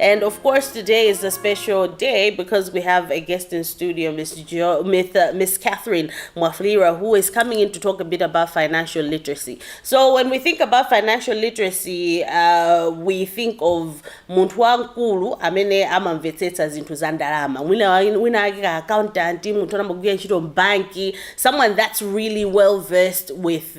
And of course, today is a special day because we have a guest in studio, Miss jo- Miss, uh, Miss Catherine Mwafulira, who is coming in to talk a bit about financial literacy. So when we think about financial literacy, uh, we think of munthu wamkulu amene amamvetsetsa zinthu za ndalama. Wina wa- wina wake ka accountant, munthu anamagwira ntchito mbanki, someone that's really well versed with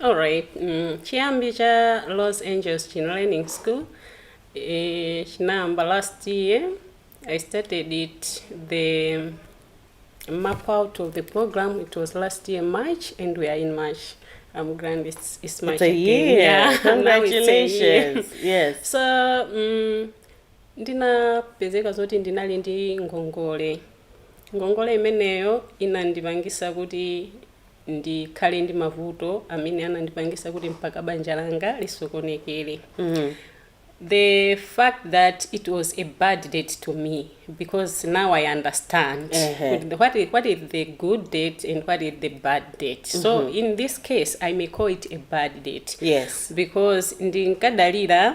Alright, mm, chiyambi cha Los Angeles Chin Learning School eh, chinayamba last year. I started it the map out of the program. It was last year March, and we are in March. I'm grand. It's, it's March It's a again. year. Yeah, now it's a year. Congratulations. Yes. so mm, ndinapezeka zoti ndinali ndi ngongole ngongole imeneyo inandipangisa kuti ndikhale ndi mavuto amene anandipangisa kuti mpaka banja langa lisokonekele mm. the fact that it was a bad date to me because now i understand uh -huh. what, is, what is the good date and what is the bad date mm -hmm. so mm-hmm. in this case i may call it a bad date yes because ndinkadalira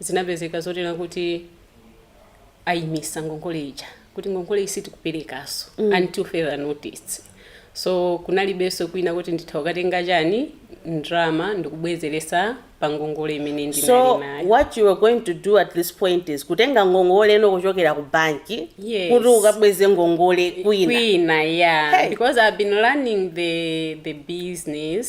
Zinapezeka zonena kuti ayimisa ngongole ija kuti ngongoleyi sitikuperekaso mm. until further notice so kunalibenso kwina kuti nditha ukatenga chani ndrama ndikubwezeresa pa ngongole imene ndinali so nayo what you are going to do at this point is kutenga ngongole ino kuchokera ku banki yes. kuti ukabweze ngongole kwina kwina yeah hey. because i've been running the the business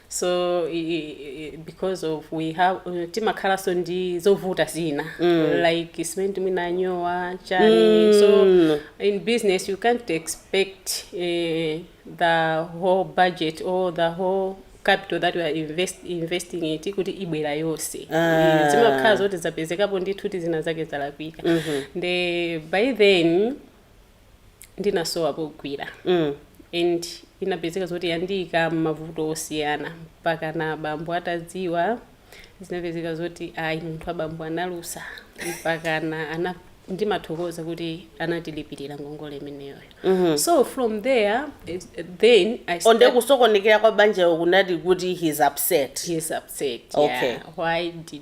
so i- i- i- because of we have uh, timakhalanso ndi zovuta zina like simene mwina yanyowa chani so in business you can't expect uh, the whole budget or the whole capital that we are invest, investing it kuti ibwera yonse Ah. Eh, zimakhala zoti zapezekapo ndithu tizina zake zalakwika nde by then ndinasowa pogwira mm. and inapezeka zoti yandiika m'mavuto osiyana mpaka na abambo atadziwa zinapezeka zoti ayi munthu abambo analusa mpaka na ana ndimathokoza kuti anatilipirira ngongole imeneyoyo mm-hmm. so from there it, then I start- nde kusokonekera kwa banjayo kunati kuti he's upset He's upset. Okay. Yeah. Why did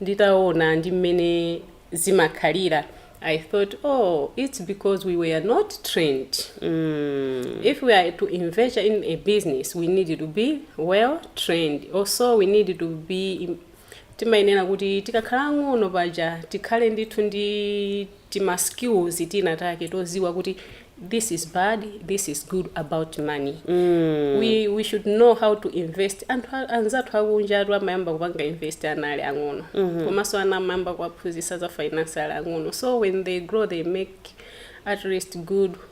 nditaona ndi mmene zimakhalira i thought oh its because we were not trained mm. if we are to invest in a business we need to be well trained also we need to be timayenera kuti tikakhala ang'ono paja tikhale ndithu ndi tima skills tina take toziwa kuti this is bad this is good about money we, we should know how to invest anthu a- anzathu akunjatu amayamba kupanga invest ana ali ang'ono komanso ana amayamba kuwaphunzisa za finance ali ang'ono so when they grow they make at least good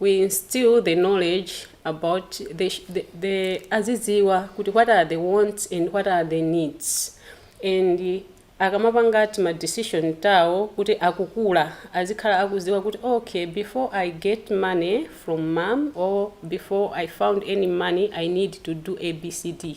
we instill the knowledge about the, the, the azidziwa kuti what are the wants and what are the needs and akamapanga tima decision tawo kuti akukula azikhala akuziwa kuti okay before i get money from mom or before i found any money i need to do abcd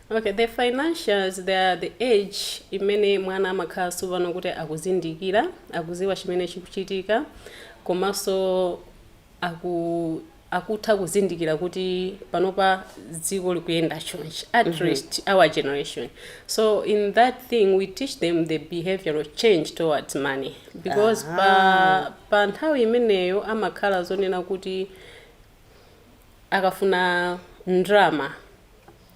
Ok the financials they are the age imene mwana amakhala tsopano kuti akuzindikira akuziwa chimene chikuchitika komanso aku akutha kuzindikira kuti panopa dziko likuyenda chonchi at mm -hmm. least our generation so in that thing we teach them the behavioral change towards money because uh -huh. pa, pa nthawi imeneyo amakhala zonena kuti akafuna ndrama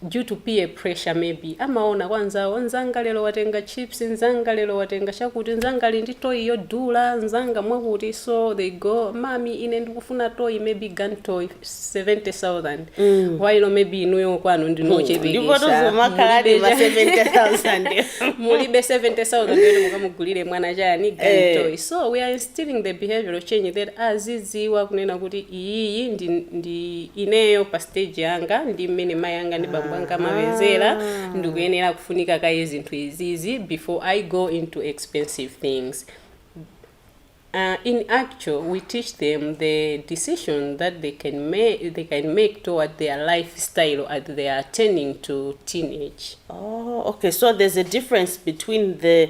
due to peer pressure maybe, amaona kwa anzawo, mzanga lero watenga chips, mzanga lero watenga chakuti, mzanga ali ndi toy yodula, mzanga mwakuti, so they go, mami ine ndikufuna toy, maybe gun toy 70,000, while maybe inuyo kwanu ndipo ndinochepekesha, tozomakhaladi mulibe ma cha- 70000 mulibe 70,000 kuti mukamugulire mwana chani gun Eh. toy, so we are in instilling the behavioral change that aziziwa kunena kuti iyiyi ndi, ndi ineyo pa stage yanga ndi mmene mai anga ndi bambo anga amapezera ndikuyenera kufunika kaye zinthu izizi before i go into expensive things Uh, in actual, we teach them the decision that they can make they can make toward their lifestyle as they are turning to teenage. Oh, okay. So there's a difference between the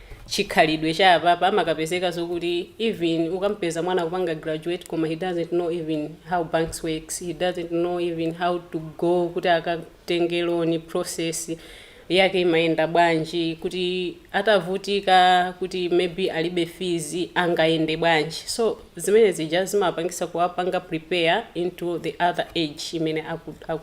chikhalidwe cha apapa amakapezeka zokuti even ukampeza mwana akupanga graduate koma he doesn't know even how banks works he doesn't know even how to go kuti akatenge loan process yake imayenda bwanji kuti atavutika kuti maybe alibe fees angayende bwanji so zimene zija zimapangisa kuwapanga prepare into the other age imene aku, aku,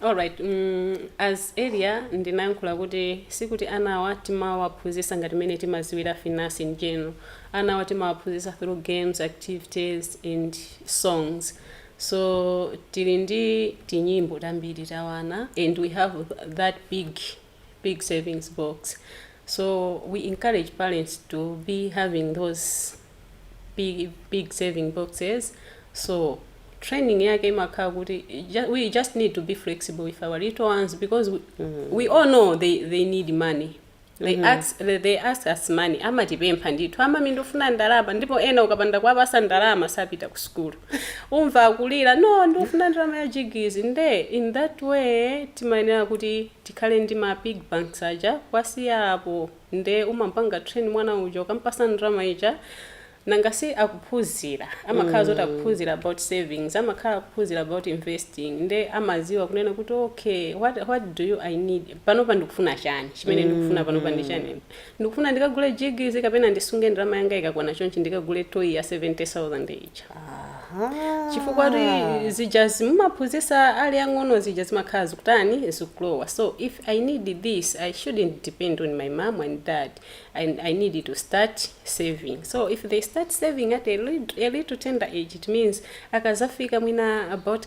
Alright mm as earlier ndinayankhula kuti sikuti anawa timawaphunzisa ngati mmene timaziwira finance in general anawa timawaphunzisa through games, activities and songs so tili ndi tinyimbo tambiri ta ana and we have that big big savings box so we encourage parents to be having those pig, pig saving boxes so training yake imakhala kuti ju- we just need to be flexible with our little ones because we, we all know they, they need money they, ask, they, they ask us money amatipempha ndithu amami ndifuna ndalama ndipo ena ukapanda kuwapasa ndalama sapita ku sukulu umva akulira no ndifuna ndalama ya jigizi nde in that way timayenera kuti Tikhale ndi ma pig banks aja kuwasiya apo nde umampanga train mwana uja ukampasa ndalama ija nanga si akuphuzira amakhala zoti akuphuzira about savings amakhala akuphuzira about investing nde amaziwa kunena kuti okay what what do i need panopa ndikufuna chani chimene ndikufuna panopa ndi chani Ndikufuna ndikagule jigizi kapena ndisunge ndalama yanga ikakwana chonchi ndikagule toy ya 70,000 ija. Aha. Chifukwa kuti zijazi mumaphunzisa ali ang'ono zija zimakhala zikutani zikulowa. So if I need this, I shouldn't depend on my mom and dad. I, I need to start saving. So if they start saving at a little, a little tender age, it means akazafika mwina about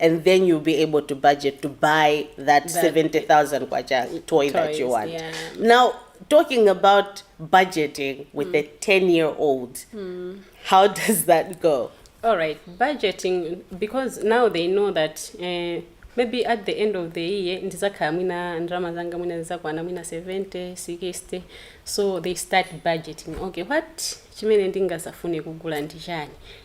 and then you'll be able to budget to buy that, that 70,000 kwacha toy toys, that you want. Yeah. Now, talking about budgeting with mm. a 10 year old, mm. how does that go? All right, budgeting, because now they know that. Uh, maybe at the end of the year ndizakhala mwina ndalama zanga mwina zizakwana mwina 70 60 so they start budgeting okay what chimene ndingazafune kugula ndi chani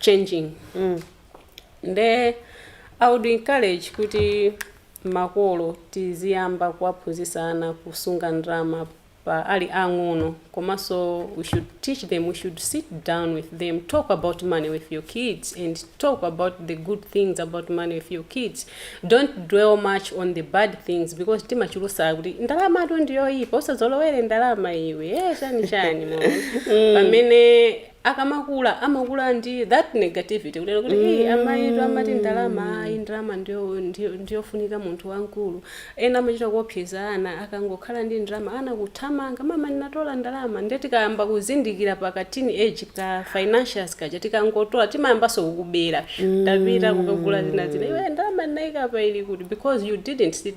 changing nde i would encourage kuti makolo tiziyamba kuwaphunzisa ana kusunga ndrama pa ali ang'ono komanso we should teach them we should sit down with them talk about money with your kids and talk about the good things about money with your kids don't dwell much on the bad things because timachulusa kuti ndalama tu ndiyoyipa usazolowere ndalama iwe eh, chani chani mm. pamene akamakula amakula ndi that negativity kuti mm. hey, amayitu amati ndalama ayi ndalama ndiyofunika munthu wamkulu ena amachita kuopseza ana akangokhala ndi ndalama ana kuthamanga mama ndinatola ndalama nde tikayamba kuzindikira pa ka teen age ka financials kaja tikangotola timayambano kukubera tapita kukagula zina zina iwe ndalama ndinayika pa ili kuti because you didn't sit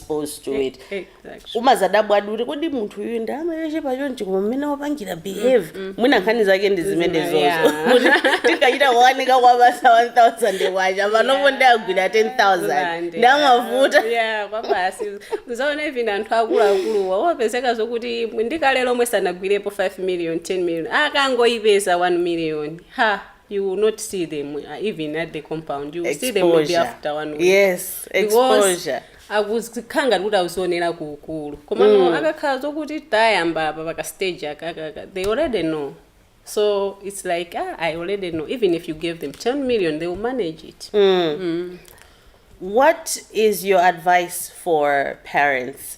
exposed to it Exactly. umazadabwa kuti kodi munthu uyu ndimamuyesa wachonchi koma mmene wapangira behave mwina nkhani zake ndi zimene Yeah. zomwezo kuti tikachita kuwanika kwabasi 1000 kwacha panopo ndagwira 10000 ndi amavuta yeah kwabasi uzaona even anthu akuluakuluwa opezeka zokuti ndikale lomwe sanagwirepo 5 million 10 million akangoyipeza 1 million ha you will not see them uh, even at the compound you will see them maybe Exposure. after one week Yes, Because exposure. akuzikhala ngati kuti akuzionera ku ukulu komano akakhala zokuti tayamba apa paka stage akakaka they already know so it's like ah, i already know even if you gave them 10 million they will manage it What is your advice for parents